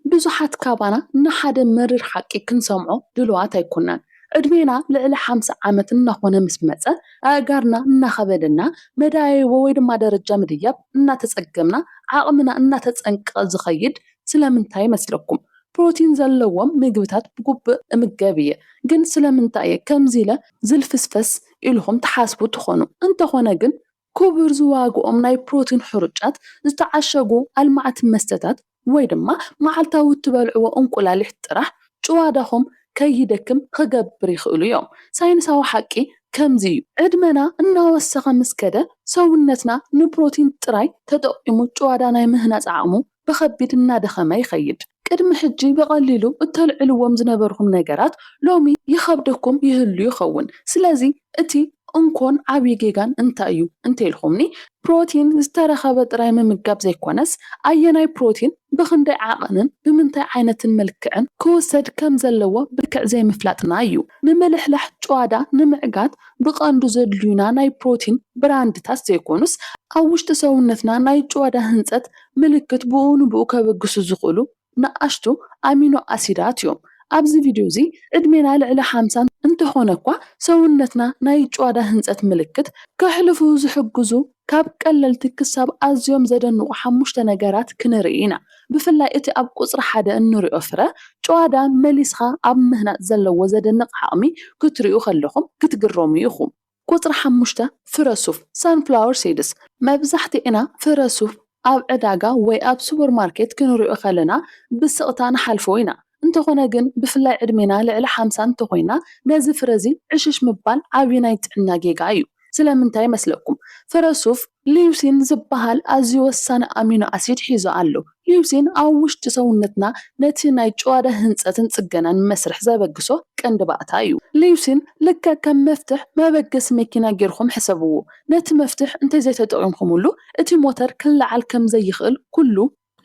ብዙሓት ካባና ንሓደ መሪር ሓቂ ክንሰምዖ ድሉዋት ኣይኮናን። ዕድሜና ልዕሊ ሓምሳ ዓመት እናኾነ ምስ መጸ፣ ኣእጋርና እናኸበደና፣ መዳይቦ ወይ ድማ ደረጃ ምድያብ እናተጸገምና፣ ዓቕምና እናተጸንቀቐ ዝኸይድ ስለምንታይ ይመስለኩም? ፕሮቲን ዘለዎም ምግብታት ብግቡእ እምገብ እየ፣ ግን ስለምንታይ እየ ከምዚ ኢለ ዝልፍስፈስ ኢልኹም ትሓስቡ ትኾኑ። እንተኾነ ግን ክቡር ዝዋግኦም ናይ ፕሮቲን ሕሩጫት፣ ዝተዓሸጉ ኣልማዕቲ መስተታት ወይ ድማ መዓልታዊ እትበልዕዎ እንቁላሊሕ ጥራሕ ጭዋዳኹም ከይደክም ኽገብር ይኽእሉ እዮም። ሳይንሳዊ ሓቂ ከምዚ እዩ። ዕድመና እናወሰኸ ምስ ከደ ሰውነትና ንፕሮቲን ጥራይ ተጠቒሙ ጭዋዳ ናይ ምህናጽ ዓቕሙ ብኸቢድ እናደኸመ ይኸይድ። ቅድሚ ሕጂ ብቐሊሉ እተልዕልዎም ዝነበርኩም ነገራት ሎሚ ይኸብደኩም ይህሉ ይኸውን። ስለዚ እቲ እንኮን ዓብዪ ጌጋን እንታይ እዩ እንተ ኢልኩምኒ፣ ፕሮቲን ዝተረኸበ ጥራይ ምምጋብ ዘይኮነስ፣ ኣየናይ ፕሮቲን ብኽንደይ ዓቐንን ብምንታይ ዓይነትን መልክዕን ክውሰድ ከም ዘለዎ ብልክዕ ዘይምፍላጥና እዩ። ምምልሕላሕ ጭዋዳ ንምዕጋት ብቐንዱ ዘድልዩና ናይ ፕሮቲን ብራንድታት ዘይኮኑስ፣ ኣብ ውሽጢ ሰውነትና ናይ ጭዋዳ ህንጸት ምልክት ብእኡ ንብኡ ከበግሱ ዝኽእሉ ንኣሽቱ ኣሚኖ ኣሲዳት እዮም። ኣብዚ ቪድዮ እዚ ዕድሜና ልዕሊ ሓምሳ እንተኾነ እኳ ሰውነትና ናይ ጭዋዳ ህንጸት ምልክት ከሕልፉ ዝሕግዙ ካብ ቀለልቲ ክሳብ ኣዝዮም ዘደንቑ ሓሙሽተ ነገራት ክንርኢ ኢና። ብፍላይ እቲ ኣብ ቁጽሪ ሓደ እንሪኦ ፍረ ጭዋዳ መሊስኻ ኣብ ምህናጽ ዘለዎ ዘደንቕ ዓቕሚ ክትሪኡ ከለኹም ክትግረሙ ኢኹም። ቁጽሪ ሓሙሽተ፣ ፍረ ሱፍ፣ Sunflower Seeds፣ መብዛሕትኤና ፍረ ሱፍ ኣብ ዕዳጋ ወይ ኣብ ሱፐርማርኬት ክንሪኦ ከለና ብስቕታ ንሓልፎ ኢና። እንተኾነ ግን ብፍላይ ዕድሜና ልዕሊ ሓምሳ እንተኾይና ነዚ ፍረዚ ዕሽሽ ምባል ዓብዪ ናይ ጥዕና ጌጋ እዩ። ስለምንታይ መስለኩም? ፍረ ሱፍ፣ ሊዩሲን ዝበሃል ኣዝዩ ወሳኒ ኣሚኖ ኣሲድ ሒዙ ኣሎ። ሊዩሲን ኣብ ውሽጢ ሰውነትና ነቲ ናይ ጭዋዳ ህንጸትን ጽገናን መስርሕ ዘበግሶ ቀንዲ ባእታ እዩ። ሊዩሲን ልክዕ ከም መፍትሕ መበገሲ መኪና ጌርኩም ሕሰብዎ። ነቲ መፍትሕ እንተዘይተጠቒምኩምሉ እቲ ሞተር ክለዓል ከም ዘይኽእል ኩሉ፣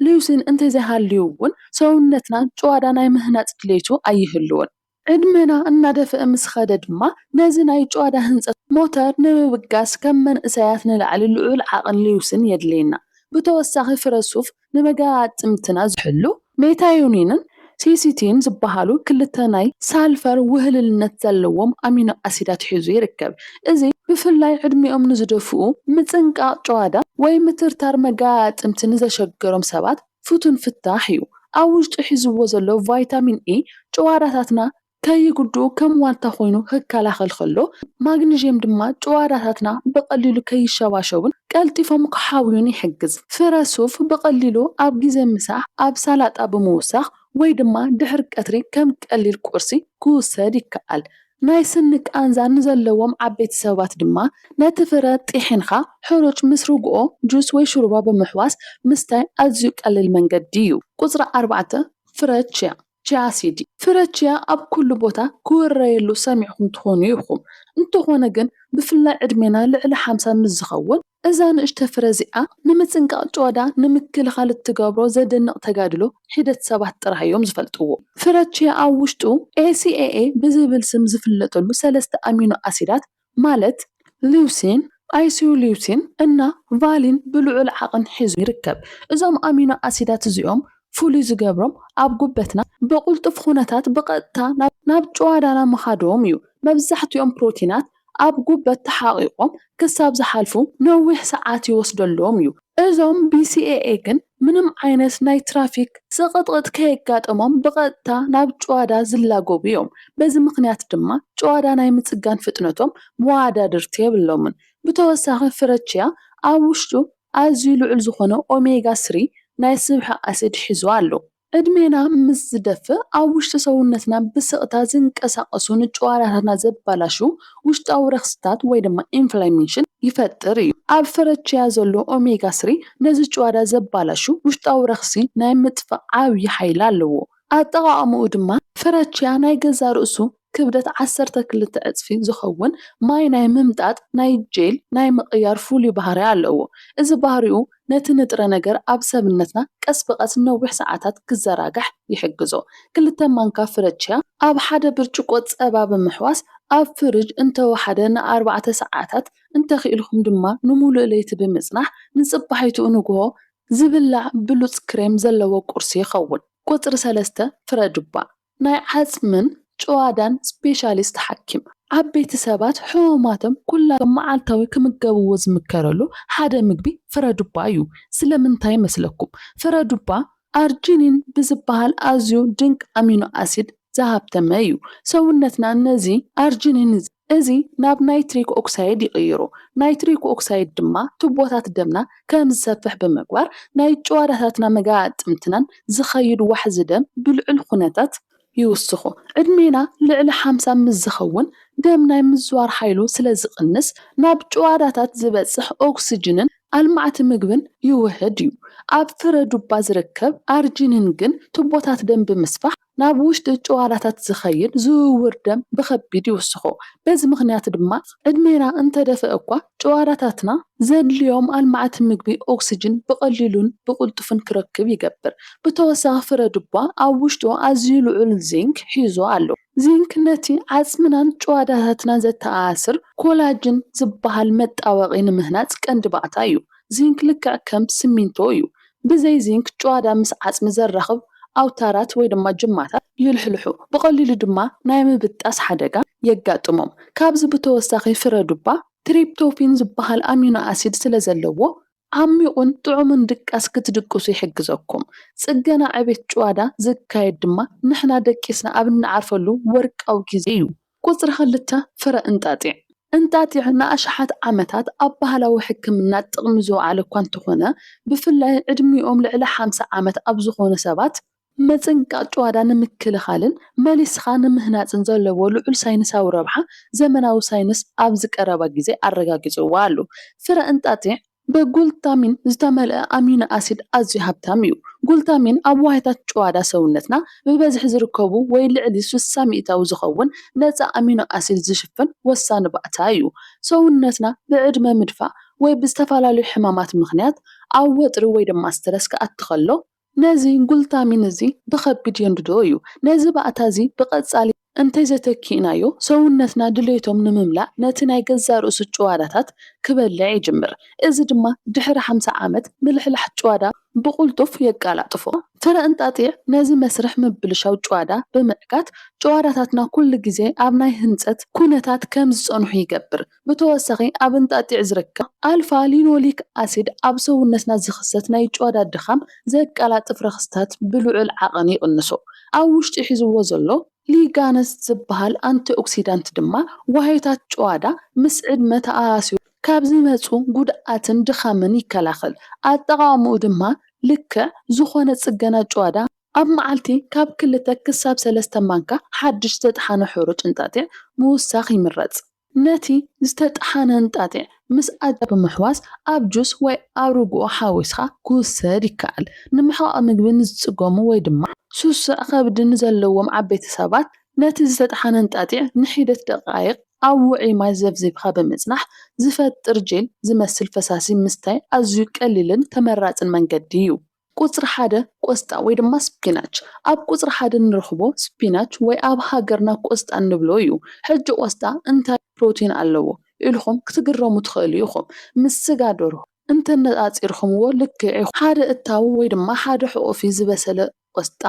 ሊዩሲን እንተዘይሃልዩ'ውን ሰውነትና ጭዋዳ ናይ ምህናጽ ድሌቱ ኣይህልዎን። ዕድመና እናደፍኣ ምስ ኸደ ድማ ነዚ ናይ ጭዋዳ ህንጸት ሞተር ንምብጋስ ከም መንእሰያት ንላዕሊ ልዑል ዓቕን ልዩስን የድልየና። ብተወሳኺ ፍረ ሱፍ ንመገጣጥምትና ዝሕሉ ሜታዮኒንን ሲሲቲን ዝበሃሉ ክልተ ናይ ሳልፈር ውህልልነት ዘለዎም ኣሚኖ ኣሲዳት ሒዙ ይርከብ። እዚ ብፍላይ ዕድሚኦም ንዝደፍኡ፣ ምጽንቃቕ ጭዋዳ ወይ ምትርታር መገጣጥምቲ ንዘሸገሮም ሰባት ፍቱን ፍታሕ እዩ። ኣብ ውሽጡ ሒዝዎ ዘሎ ቫይታሚን ኤ ጭዋዳታትና ከይጉድኡ ከም ዋልታ ኮይኑ ክከላኸል ከሎ፣ ማግኒዥየም ድማ ጭዋዳታትና ብቐሊሉ ከይሸባሸቡን ቀልጢፎም ክሓውዩን ይሕግዝ። ፍረ ሱፍ ብቐሊሉ ኣብ ግዜ ምሳሕ ኣብ ሳላጣ ብምውሳኽ ወይ ድማ ድሕሪ ቀትሪ ከም ቀሊል ቁርሲ ክውሰድ ይከኣል። ናይ ስኒ ቃንዛ ንዘለዎም ዓበይቲ ሰባት ድማ ነቲ ፍረ ጢሒንኻ ሕሩጭ ምስ ርግኦ ጁስ ወይ ሽሩባ ብምሕዋስ ምስታይ ኣዝዩ ቀሊል መንገዲ እዩ። ቁጽሪ ኣርባዕተ፣ ፍረ ቺያ፣ Chia Seed፣ ፍረ ቺያ ኣብ ኩሉ ቦታ ክውረየሉ ሰሚዕኩም ትኾኑ ኢኹም፣ እንተኾነ ግን ብፍላይ ዕድሜና ልዕሊ ሓምሳ ምስ ዝኸውን፣ እዛ ንእሽቶ ፍረ እዚኣ ንምጽንቃቕ ጭዋዳ ንምክልኻል እትገብሮ ዘደንቕ ተጋድሎ ሒደት ሰባት ጥራህ እዮም ዝፈልጥዎ። ፍረ ቺያ ኣብ ውሽጡ ACAA ብዝብል ስም ዝፍለጠሉ ሰለስተ ኣሚኖ ኣሲዳት ማለት ሊዩሲን፣ ኣይሶሊዩሲን እና ቫሊን ብልዑል ዓቕን ሒዙ ይርከብ። እዞም ኣሚኖ ኣሲዳት እዚኦም ፍሉይ ዝገብሮም ኣብ ጉበትና ብቕልጡፍ ኹነታት ብቐጥታ ናብ ጭዋዳና ምኻዶም እዩ። መብዛሕቲኦም ፕሮቲናት ኣብ ጉበት ተሓቒቖም ክሳብ ዝሓልፉ ነዊሕ ሰዓት ይወስደሎም እዩ። እዞም BCAA ግን ምንም ዓይነት ናይ ትራፊክ ጽቕጥቕጥ ከየጋጠሞም ብቐጥታ ናብ ጭዋዳ ዝላገቡ እዮም። በዚ ምኽንያት ድማ ጭዋዳ ናይ ምጽጋን ፍጥነቶም መወዳድርቲ የብሎምን። ብተወሳኺ ፍረቺያ ኣብ ውሽጡ ኣዝዩ ልዑል ዝኾነ ኦሜጋ ስሪ ናይ ስብሒ ኣሲድ ሒዙ ኣሎ። ዕድሜና ምስ ዝደፍእ ኣብ ውሽጢ ሰውነትና ብስቕታ ዝንቀሳቐሱ ንጨዋዳታትና ዘበላሹ ውሽጣዊ ረኽሲታት ወይ ድማ ኢንፍላሜሽን ይፈጥር እዩ። ኣብ ፍረ ቺያ ዘሎ ኦሜጋ ስሪ ነዚ ጭዋዳ ዘበላሹ ውሽጣዊ ረኽሲ ናይ ምጥፋእ ዓብዪ ሓይሊ ኣለዎ። ኣጠቓቕምኡ ድማ ፍረ ቺያ ናይ ገዛእ ርእሱ ክብደት ዓሰርተ ክልተ ዕጽፊ ዝኸውን ማይ ናይ ምምጣጥ ናይ ጄል ናይ ምቕያር ፍሉይ ባህርይ ኣለዎ። እዚ ባህሪኡ ነቲ ንጥረ ነገር ኣብ ሰብነትና ቀስ ብቐስ ንነዊሕ ሰዓታት ክዘራጋሕ ይሕግዞ። ክልተ ማንካ ፍረ ቺያ ኣብ ሓደ ብርጭቆ ጸባ ብምሕዋስ ኣብ ፍርጅ እንተወሓደ ንኣርባዕተ ሰዓታት እንተኽኢልኩም ድማ ንምሉእ ለይቲ ብምጽናሕ ንጽባሒትኡ ንግሆ ዝብላዕ ብሉጽ ክሬም ዘለዎ ቁርሲ ይኸውን። ቁጽሪ ሰለስተ ፍረ ዱባ። ናይ ዓጽምን ጭዋዳን ስፔሻሊስት ሓኪም፣ ዓበይቲ ሰባት ሕሙማቶም ኩላቶም መዓልታዊ ክምገብዎ ዝምከረሉ ሓደ ምግቢ ፍረዱባ እዩ። ስለምንታይ መስለኩም? ፍረዱባ ኣርጂኒን ብዝበሃል ኣዝዩ ድንቂ ኣሚኖ ኣሲድ ዝሃብተመ እዩ። ሰውነትና ነዚ ኣርጂኒን እዚ። እዚ ናብ ናይትሪክ ኦክሳይድ ይቕይሮ። ናይትሪክ ኦክሳይድ ድማ ቱቦታት ደምና ከም ዝሰፍሕ ብምግባር ናይ ጭዋዳታትናን መገጣጥምትናን ዝኸይድ ዋሕዚ ደም ብልዑል ኩነታት ይውስኾ። ዕድሜና ልዕሊ ሓምሳ ምስ ዝኸውን ደም ናይ ምዝዋር ሓይሉ ስለ ዝቕንስ ናብ ጭዋዳታት ዝበጽሕ ኦክስጅንን ኣልማዕቲ ምግብን ይውህድ እዩ። ኣብ ፍረ ዱባ ዝርከብ ኣርጂኒን ግን ቱቦታት ደም ብምስፋሕ፣ ናብ ውሽጢ ጭዋዳታት ዝኸይድ ዝውውር ደም ብኸቢድ ይውስኾ። በዚ ምኽንያት ድማ ዕድሜና እንተደፍኣ እኳ ጭዋዳታትና ዘድልዮም ኣልማዕቲ ምግቢ ኦክስጅን ብቐሊሉን ብቕልጡፍን ክረክብ ይገብር። ብተወሳኺ ፍረ ድቧ ኣብ ውሽጡ ኣዝዩ ልዑል ዚንክ ሒዙ ኣሎ። ዚንክ ነቲ ዓጽምናን ጭዋዳታትናን ዘተኣሳስር ኮላጅን ዝበሃል መጣበቒ ንምህናጽ ቀንዲ ባእታ እዩ። ዚንክ ልክዕ ከም ስሚንቶ እዩ። ብዘይ ዚንክ ጭዋዳ ምስ ዓጽሚ ዘራኽብ ኣውታራት ወይ ድማ ጅማታት ይልሕልሑ፣ ብቐሊሉ ድማ ናይ ምብጣስ ሓደጋ የጋጥሞም። ካብዚ ብተወሳኺ ፍረ ዱባ ትሪፕቶፊን ዝበሃል ኣሚኖ ኣሲድ ስለ ዘለዎ፣ ዓሚቝን ጥዑምን ድቃስ ክትድቅሱ ይሕግዘኩም። ጽገና ዕቤት ጭዋዳ ዝካየድ ድማ ንሕና ደቂስና ኣብ እንዓርፈሉ ወርቃዊ ግዜ እዩ። ቁጽሪ ክልተ፣ ፍረ እንጣጢዕ። እንጣጢዕ ንኣሽሓት ዓመታት ኣብ ባህላዊ ሕክምና ጥቕሚ ዝወዓለ እኳ እንተኾነ፣ ብፍላይ ዕድሚኦም ልዕሊ ሓምሳ ዓመት ኣብ ዝኾኑ ሰባት፣ ምጽንቃጥ ጭዋዳ ንምክልኻልን መሊስኻ ንምህናጽን ዘለዎ ልዑል ሳይንሳዊ ረብሓ ዘመናዊ ሳይንስ ኣብዚ ቀረባ ግዜ ኣረጋጊጽዎ ኣሎ። ፍረ እንጣጢዕ ብጉልታሚን ዝተመልአ ኣሚኖ ኣሲድ ኣዝዩ ሃብታም እዩ። ጉልታሚን ኣብ ዋህዮታት ጭዋዳ ሰውነትና ብበዝሒ ዝርከቡ ወይ ልዕሊ ስሳ ሚእታዊ ዝኸውን ነጻ ኣሚኖ ኣሲድ ዝሽፍን ወሳኒ ባእታ እዩ። ሰውነትና ብዕድመ ምድፋእ ወይ ብዝተፈላለዩ ሕማማት ምኽንያት ኣብ ወጥሪ ወይ ድማ ስትረስ ክኣቲ ከሎ፣ ነዚ ጉልታሚን እዚ ብኸቢድ የንድዶ እዩ። ነዚ ባእታ እዚ ብቐጻሊ እንተዘይተኪእናዮ፣ ሰውነትና ድሌቶም ንምምላእ ነቲ ናይ ገዛእ ርእሱ ጭዋዳታት ክበልዕ ይጅምር። እዚ ድማ ድሕሪ ሓምሳ ዓመት ምልሕላሕ ጭዋዳ ብቕልጡፍ የቀላጥፎ። ፍረ እንጣጢዕ ነዚ መስርሕ ምብልሻው ጭዋዳ ብምዕጋት፣ ጭዋዳታትና ኩሉ ግዜ ኣብ ናይ ህንጸት ኩነታት ከም ዝጸንሑ ይገብር። ብተወሳኺ ኣብ እንጣጢዕ ዝርከብ ኣልፋ ሊኖሊክ ኣሲድ ኣብ ሰውነትና ዝኽሰት ናይ ጭዋዳ ድኻም ዘቀላጥፍ ረኽስታት ብልዑል ዓቐን ይቕንሶ። ኣብ ውሽጢ ሒዝዎ ዘሎ ሊጋነስ ዝበሃል ኣንቲኦክሲዳንት ድማ ዋህዮታት ጭዋዳ ምስ ዕድመ ተኣኣሲሩ ካብ ዝመጹ ጉድኣትን ድኻምን ይከላኸል። ኣጠቓቕማኡ ድማ ልክዕ ዝኾነ ጽገና ጭዋዳ፣ ኣብ መዓልቲ ካብ ክልተ ክሳብ ሰለስተ ማንካ ሓድሽ ዝተጥሓነ ሕሩጭ እንጣጢዕ ምውሳኽ ይምረጽ። ነቲ ዝተጠሓነ እንጣጢዕ ምስ ኣጃ ብምሕዋስ ኣብ ጁስ ወይ ኣብ ርግኦ ሓዊስካ ክውሰድ ይከኣል። ንምሕቓቕ ምግቢ ንዝጽገሙ ወይ ድማ ስሱዕ ከብዲ ንዘለዎም ዓበይቲ ሰባት ነቲ ዝተጠሓነ እንጣጢዕ ንሒደት ደቓይቕ ኣብ ውዑይ ማይ ዘብዚብካ ብምጽናሕ ዝፈጥር ጄል ዝመስል ፈሳሲ ምስታይ ኣዝዩ ቀሊልን ተመራጽን መንገዲ እዩ። ቁጽሪ ሓደ ቆስጣ ወይ ድማ ስፒናች። ኣብ ቁጽሪ ሓደ ንረኽቦ ስፒናች ወይ ኣብ ሃገርና ቆስጣ እንብሎ እዩ። ሕጂ ቆስጣ እንታይ ፕሮቲን ኣለዎ ኢልኹም ክትግረሙ ትኽእሉ ኢኹም። ምስ ስጋ ደርሆ እንተነጻጺርኩምዎ ልክዕ ኢኹም። ሓደ እታው ወይ ድማ ሓደ ሕቑፊ ዝበሰለ ቆስጣ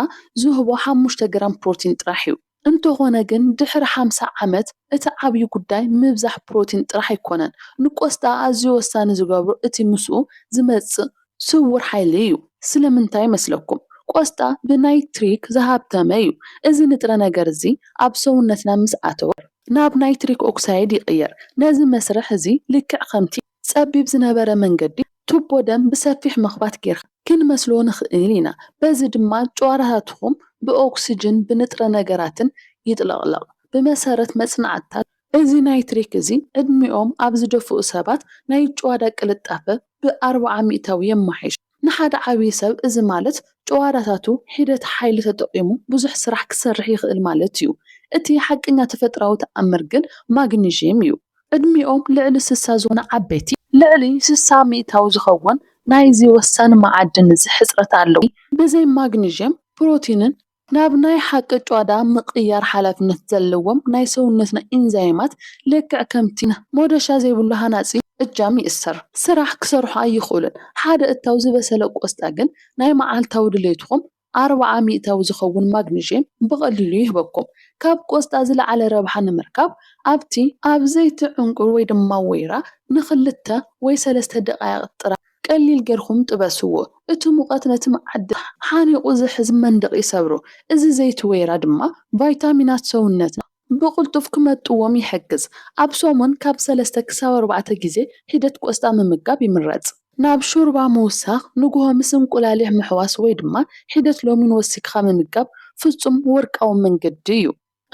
ዝህቦ ሓሙሽተ ግራም ፕሮቲን ጥራሕ እዩ። እንተኾነ ግን ድሕሪ ሓምሳ ዓመት እቲ ዓብዩ ጉዳይ ምብዛሕ ፕሮቲን ጥራሕ ኣይኮነን። ንቆስጣ ኣዝዩ ወሳኒ ዝገብሮ እቲ ምስኡ ዝመጽእ ስዉር ሓይሊ እዩ። ስለምንታይ ይመስለኩም? ቆስጣ ብናይትሪክ ዝሃብተመ እዩ። እዚ ንጥረ ነገር እዚ ኣብ ሰውነትና ምስ ኣተወ። ናብ ናይትሪክ ኦክሳይድ ይቕየር። ነዚ መስርሕ እዚ ልክዕ ከምቲ። ጸቢብ ዝነበረ መንገዲ ቱቦ ደም ብሰፊሕ መኽባት ጌርካ ክንመስሎ ንኽእል ኢና፣ በዚ ድማ ጭዋዳታትኩም ብኦክስጅንን ብንጥረ ነገራትን ይጥለቕለቕ። ብመሰረት መጽናዕትታት፣ እዚ ናይትሪክ እዚ ዕድሚኦም ኣብ ዝደፍኡ ሰባት ናይ ጭዋዳ ቅልጣፈ ብኣርብዓ ሚእታዊ የማሕይሾ። ንሓደ ዓብዪ ሰብ እዚ ማለት ጭዋዳታቱ ሒደት ሓይሊ ተጠቒሙ ብዙሕ ስራሕ ክሰርሕ ይኽእል ማለት እዩ። እቲ ሓቀኛ ተፈጥራዊ ተኣምር ግን ማግኒዥየም እዩ። ዕድሚኦም ልዕሊ ስሳ ዝኾነ ዓበይቲ። ልዕሊ ስሳ ሚእታዊ ዝኸውን ናይዚ ወሳኒ መዓድን እዚ ሕጽረት ኣለዎ። ብዘይ ማግኒዥየም ፕሮቲንን ናብ ናይ ሓቂ ጭዋዳ ምቕያር ሓላፍነት ዘለዎም ናይ ሰውነትና ኢንዛይማት ልክዕ ከምቲ ሞዶሻ ዘይብሉ ሃናጺ እጃም ይእሰር ስራሕ ክሰርሑ ኣይኽእሉን። ሓደ እታው ዝበሰለ ቆስጣ ግን ናይ መዓልታዊ ድሌትኹም ኣርብዓ ሚእታዊ ዝኸውን ማግኒዥየም ብቐሊሉ ይህበኩም። ካብ ቆስጣ ዝለዓለ ረብሓ ንምርካብ ኣብቲ። ኣብ ዘይቲ ዕንቊ ወይ ድማ ወይራ ንኽልተ ወይ ሰለስተ ደቓይቕ ጥራይ። ቀሊል ጌርኩም ጥበስዎ። እቲ ሙቐት ነቲ መዓድን ሓኒቑ ዝሕዝ መንደቕ ይሰብሮ። እዚ ዘይቲ ወይራ ድማ ቫይታሚናት ሰውነትና ብቕልጡፍ ክመጥዎም ይሕግዝ። ኣብ ሰሙን ካብ ሰለስተ ክሳብ ኣርባዕተ ግዜ ሒደት ቆስጣ ምምጋብ ይምረጽ። ናብ ሾርባ ምውሳኽ፣ ንግሆ ምስ እንቁላሊሕ ምሕዋስ ወይ ድማ ሒደት ሎሚን ወሲክኻ ምምጋብ ፍጹም ወርቃዊ መንገዲ እዩ።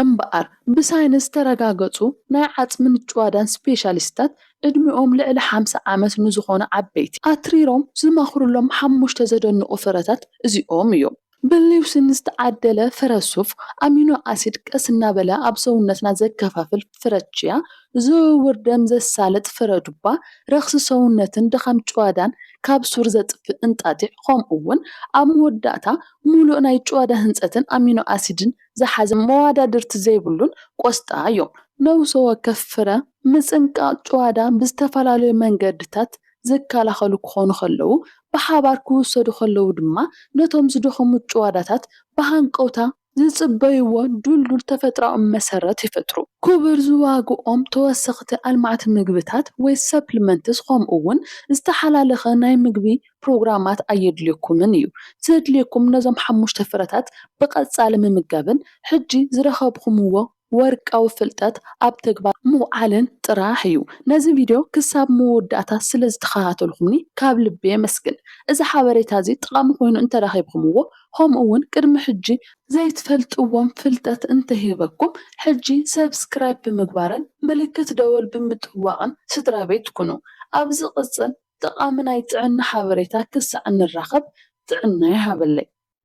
እምበኣር ብሳይንስ ዝተረጋገጹ ናይ ዓጽምን ጭዋዳን ስፔሻሊስትታት ዕድሚኦም ልዕሊ ሓምሳ ዓመት ንዝኾኑ ዓበይቲ ኣትሪሮም ዝመኽሩሎም ሓሙሽተ ዘደንቑ ፍረታት እዚኦም እዮም። ብሊውሲን ዝተዓደለ ፍረ ሱፍ፣ ኣሚኖ ኣሲድ ቀስ እናበለ ኣብ ሰውነትና ዘከፋፍል ፍረ ቺያ፣ ዝውውር ደም ዘሳልጥ ፍረ ዱባ፣ ረኽሲ ሰውነትን ድኻም ጭዋዳን ካብ ሱር ዘጥፍእ እንጣጢዕ፣ ከምኡ'ውን ኣብ መወዳእታ ምሉእ ናይ ጭዋዳ ህንጸትን ኣሚኖ ኣሲድን ዝሓዘ መዋዳድርቲ ዘይብሉን ቆስጣ እዮም። ነብሰ ወከፍ ፍረ ምጽንቃቕ ጭዋዳ ብዝተፈላለዩ መንገድታት ዝከላኸሉ ክኾኑ ከለዉ፣ ብሓባር ክውሰዱ ከለዉ ድማ ነቶም ዝደኸሙ ጭዋዳታት ብሃንቀውታ ዝጽበይዎ ድልዱል ተፈጥሮኣዊ መሰረት ይፈጥሩ። ክቡር ዝዋግኦም ተወሰኽቲ ኣልማዕቲ ምግብታት ወይ ሰፕሊመንትስ ከምኡ'ውን ዝተሓላለኸ ናይ ምግቢ ፕሮግራማት ኣየድልየኩምን እዩ። ዘድልየኩም ነዞም ሓሙሽተ ፍረታት ብቐጻሊ ምምጋብን ሕጂ ዝረኸብኹምዎ ወርቃዊ ፍልጠት ኣብ ተግባር ምውዓልን ጥራሕ እዩ። ነዚ ቪድዮ ክሳብ መወዳእታ ስለ ዝተኸታተልኩምኒ ካብ ልቢ የመስግን። እዚ ሓበሬታ እዚ ጠቓሚ ኮይኑ እንተ ረኺብኩምዎ ከምኡ እውን ቅድሚ ሕጂ። ዘይትፈልጥዎም ፍልጠት እንተ ሂበኩም ሕጂ ሰብስክራይብ ብምግባርን ምልክት ደወል ብምጥዋቕን ስድራቤት ኩኑ። ኣብ ዝቕጽል ጠቓሚ ናይ ጥዕና ሓበሬታ ክሳዕ እንራኸብ ጥዕና ይሃበለይ።